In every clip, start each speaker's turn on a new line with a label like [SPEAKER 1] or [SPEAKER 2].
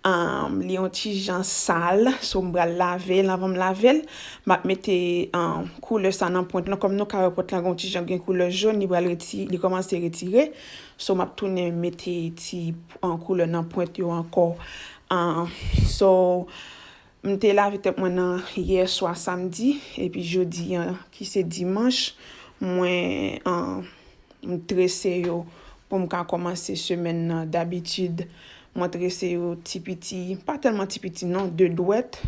[SPEAKER 1] Ahh li yon ti jan sal so m pral lavel anvan m lavel map mete ahh koulè sa nan pwent lan kòm nou ka wè pwent lan gen yon ti jan gen koulè jòn li pral retire li kòmanse retire so map tounen mete ti koulè nan pwent yo ankò ahh so M te lave tèt mwen nan yè swa samdi epi jodi an ki se dimanch mwen m trese yo pou m ka kòmanse semèn nan dabitid mwen trese yo ti piti pa tèlman ti piti non 2 dwèt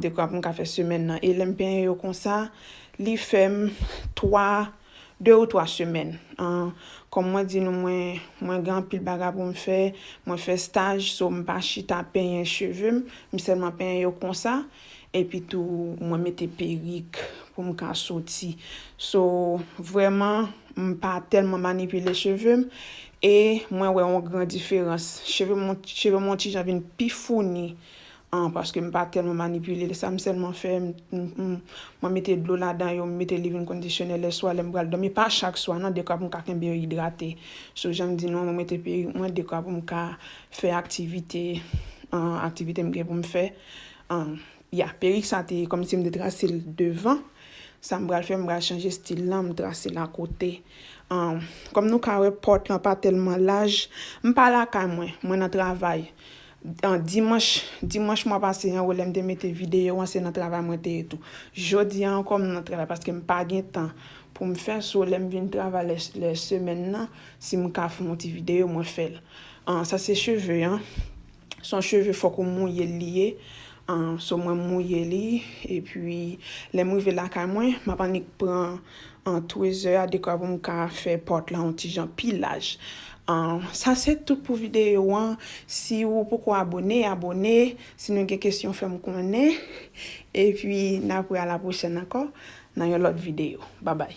[SPEAKER 1] dekwa pou m ka fè semèn nan e lè m penyen yo konsa li fè m 3. 2 ou 3 semèn. An, kòm mwen di nou mwen, mwen gen anpil bagay pou m fè, mwen fè staj, so m pa chita penyen cheve m, m sèlman penyen yo konsa, epi tou mwen mete perik pou m ka soti. So, vrèman, m pa tèlman manipile cheve m, e mwen wè yon gran diferans. Cheve m, cheve m yon ti jan vin pi founi, an paske m pa tèlman manipile l sa m sèlman fè mwen mete dlo ladan yo m mete living conditioner lè swa lè m pral dòmi pa chak swa nan dekwa pou m ka kenbe yo idrate sou jan m di nou an mwen mete perik mwen dekwa pou m ka fè aktivite aktivite m gen pou m fè an ya perik sa te kòmsi m te trase l devan sa m pral fè m pral chanje stil lan m trase l akote an kòm nou ka wè pòt lan pa tèlman laj m pa lakay mwen mwen nan travay Dimanch dimanch mwa pase an lè m te mete videyo an se nan travay mwen te ye tou. Jodi a ankò m nan travay paske m pa gen tan pou m fè so lè m vin travay lè semèn nan si m ka fè yon ti videyo mwen fè l. Sa se cheve an son cheve fòk ou mouye l li ye So mwen mouye li epi lè m rive lakay mwen m ap annik pran twezè a dekwa pou m ka fè pòt lan yon ti jan pi laj. Sa se tout pou videyo an. Si ou poko abone, abone. Si nou gen kesyon fè m konnen. Epi n ap wè alapwochèn ankò nan yon lòt videyo. Babay!